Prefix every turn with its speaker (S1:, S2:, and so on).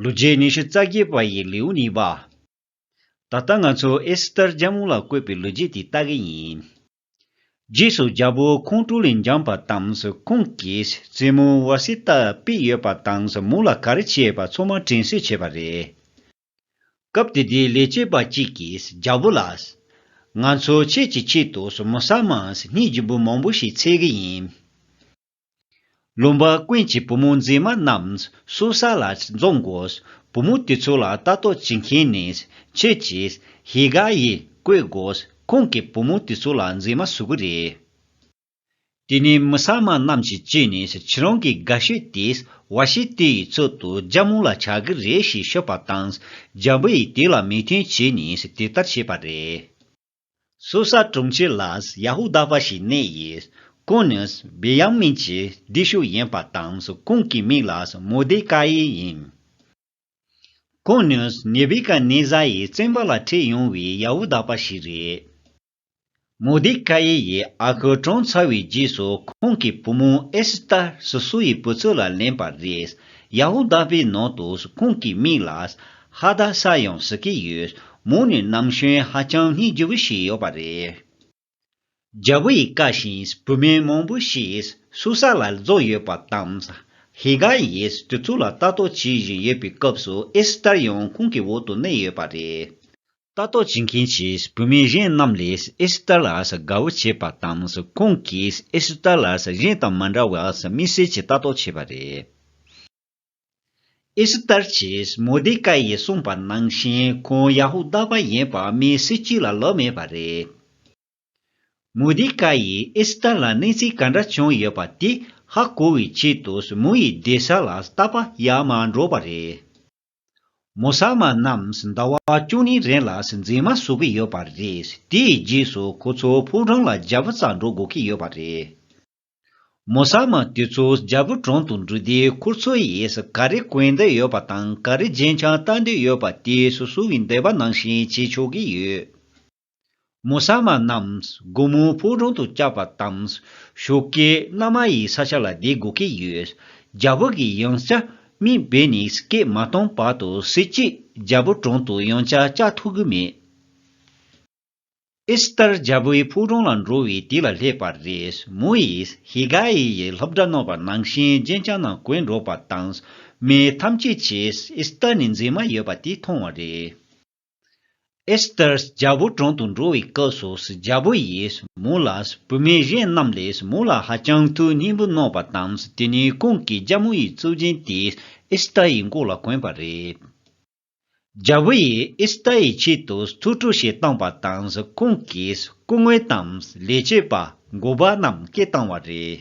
S1: ལོ་རྗེས་ཉི་ཤུ་རྩ་བརྒྱད་པ་ཡི་ལེའུ་གཉིས་པ། ད་ལྟ་ང་ཚོ་ཨེ་སི་ཏར་རྒྱལ་མོ་ལ་བཀོད་པའི་ལོ་རྗེས་དེ་ལྟ་གི་ཡིན། རྗེས་སུ་རྒྱལ་པོ་ཁོང་ཀྲུའུ་ལེན་འགྱངས་པ་དང་ཁོང་གིས་བཙུན་མོ་ཝཱ་སི་ཏཱ་དཔེ་ཡོད་པ་དང་མོ་ལ་ག་རེ་བྱས་པ་ཚོ་མ་དྲན་གསོས་བྱས་པ་རེད། སྐབས་དེ་དུས་ལས་བྱེད་པ་གཅིག་གིས་རྒྱལ་པོ་ལ། ང་ཚོ་ཁྱེད་ཀྱི་ཆེད་དུ་མོ་ཟ་མ་སྙིང་རྗེ་བོ་མང་པོ་ཞིག་འཚལ་གི་ཡིན། ལུང་པ་ཀུན་གྱི་བུ་མོ་མཛེས་མ་རྣམས་སུ་ས་ལ་འཛོམས་དགོས། བུ་མོ་དེ་ཚོ་ལ་ལྟ་རྟོག་བྱེད་མཁན་ནི་ཁྱོད་ཀྱིས་ཧེ་ག་ཡིས་བསྐོས་དགོས་ཁོང་གིས་བུ་མོ་དེ་ཚོ་ལ་མཛེས་མ་བཟོ་གི་རེད། དེ་ནས་མི་ས་མ་རྣམས་ཀྱིས་ཀྱིས་ནི་ཁྱེད་རང་གི་དགའ་ཤོས་དེས་བ་ཤི་ཏི་ཡི་ཚུལ་དུ་རྒྱ་མོ་ལ་བྱ་གི་རེད་ཞེས་ཤོད་པ་དང་རྒྱ་བུ་ཡིས་དེ་ལ་མོས་མཐུན་བྱས་ནས་དེ་ལྟར་བྱས་པ་རེད། སུ་ས་དྲུང་ཆེ་ལ་ཡ་ཧུ་དཱ་པ་ཞིག་གནས་ཡི། ཀུན་ནི་བི་ཡཱ་མིན་གྱི་སྡེ་ཤུག་ཡིན་པ་དང་ཀུན་གྱི་མིང་ལ་མོ་དེ་ཀཱ་ཨི་ཡིན། ཀུན་ནི་ནེ་བི་ཀ་ནེ་ཛཱ་ཡི་བཙན་པ་ལ་འཁྲིད་ཡོང་བའི་ཡ་ཧུ་དཱ་པ་ཞིག་རེད། མོ་དེ་ཀཱ་ཨི་ཡི་ཨ་ཁུ་གྲོངས་ཚར་བའི་རྗེས་སུ་ཁོང་གི་བུ་མོ་ཨེ་སི་ཏར་སུ་སུ་ཡི་བུ་ཚོད་ལ་ལེན་པ་རེད། ཡ་ཧུ་དཱ་པའི་ནང་དུ་ཀུན་གྱི་མིང་ལ་ཧ་ད་ས་ཡོང་ཟི་ཀི་ཡོད་མོ་ནི་ནམ་གཞོན་ཧ་ཅང་སྙིང་རྗེ་བོ་ཞིག་ཡོད་པ་རེད། རྒྱལ་བོ་ཡི་བཀའ་བཞིན་བུད་མེད་མང་པོ་ཞིག་སུ་ས་ལ་རྫོགས་ཡོད་པ་དང། ཧི་ག་ཡིས་དུས་ཚོད་ལ་ལྟ་རྟོག་བྱེད་བཞིན་ཡོད་པའི་སྐབས་སུ་ཨེ་སི་ཏར་ཡང་ཁོང་གི་འོག་ཏུ་གནས་ཡོད་པ་རེད། ལྟ་རྟོག་བྱེད་མཁན་གྱི་བུད་མེད་གཞན་རྣམས་ལས་ཨེ་སི་ཏར་ལ་དགའ་བོ་བྱས་པ་དང་ཁོང་གིས་ཨེ་སི་ཏར་ལ་གཞན་དང་མ་འདྲ་བར་མི་སེར་གྱི་ལྟ་རྟོག་བྱས་པ་རེད། ཨི་སི་ཏར་གྱིས་མོ་ལྡེ་ཀཱི་ཡིས་གསུངས་པ་ནང་བཞིན་ཁོང་ཡ་ཧུ་དཱ་པ་ཡིན་པ་མི་སྲིད་སྤྱི་ལ་ལོག་མེད་པ་རེད། མོ་ལྡེ་ཀཱི་ཡིས་ཨི་སི་ཏར་ལ་གནས་ཚུལ་ག་འདྲ་བྱུང་ཡོད་པ་དེ་ཧ་གོ་བའི་ཆེད་དུ་མོ་ཡི་སྡེ་ས་ལ་ལྟ་པ་ཡ་མ་འགྲོ་བ་རེད། མོ་ཟ་མ་རྣམས་ཟླ་བ་བཅུ་གཉིས་རིང་ལ་འཛིན་མ་བཟོ་གི་ཡོད་པ་རེད་དེའི་རྗེས་སུ་ཁོ་ཚོ་ཕོ་བྲང་ལ་རྒྱབ་རྩ་འགྲོ་དགོས་ཀྱི་ཡོད་པ་རེད། མོ་ཟ་མ་དེ་ཚོ་རྒྱལ་པོ་དྲུང་དུ་འགྲོ་དུས་ཁོ་ཚོ་ཡིས་ག་རེ་གོན་འདོད་ཡོད་པ་དང་ག་རེ་རྗེས་འཆང་ལྟ་འདོད་ཡོད་པ་དེ་སོ་སོ་གི་འདོད་པ་ནང་བཞིན་བྱེད་ཆོག་གི་ཡོད། མོ་ཟ་མ་རྣམས་སྒོ་མོའི་ཕུག་རོན་དུ་བཅག་པ་དང། ཞོགས་ཀའི་མནའ་མ་ཡི་ས་ཆ་ལ་བསྡད་དགོས་ཀྱི་ཡོད། རྒྱལ་པོ་གི་ཡང་ཅཱ་མི་སྦེ་ནི་སྐད་མ་སྟོང་བར་དུ་གཟི་བརྗིད་རྒྱལ་པོ་དྲུང་དུ་ཡང་ཅཱ་བཅའ་ཐུབ་གི་མེད། ཨི་སྟར་རྒྱལ་པོའི་ཕུག་རོན་ལ་འགྲོ་བའི་དུས་ལ་སླེབས་པ་རེད་མོ་ཡིས་ཧི་གྷ་ཨི་ཡི་སློབ་གྲྭ་གནང་བར་ནང་བཞིན་རྗེས་འབྱང་ནང་བཀོད་འགྲོ་པ་དང། མི་ཐམས་ཅད་ཀྱིས་ཨི་སྟར་ནི་མཛེས་མ་ཡོད་པ་དེ་མཐོང་བ་རེད། ཨི་སྟར་རྒྱལ་པོ་དྲུང་དུ་འགྲོ་བའི་སྐབས་སུ་རྒྱལ་པོ་ཡིས་མོ་ལ་བུད་མེད་གཞན་རྣམས་ལས་མོ་ལ་ཧ་ཅང་ཐུགས་སྙིང་པོ་གནང་བ་དང་དེ་ནས་ཁོང་གི་རྒྱ་མོ་ཡི་གཙུག་རྒྱན་དེ་ཨི་སྟར་ཡི་མགོ་ལ་གོན་པ་རེད། རྒྱལ་པོ་ཡིས་ཨིསི་ཏཱ་ཡི་ཆེད་དུ་ཐུགས་སྤྲོ་ཞིག་བཏང་བ་དང་ཁོང་གིས་སྐུ་ངོས་དང་ལས་བྱེད་པ་འགོ་པ་རྣམས་སྐད་བཏང་བ་རེད།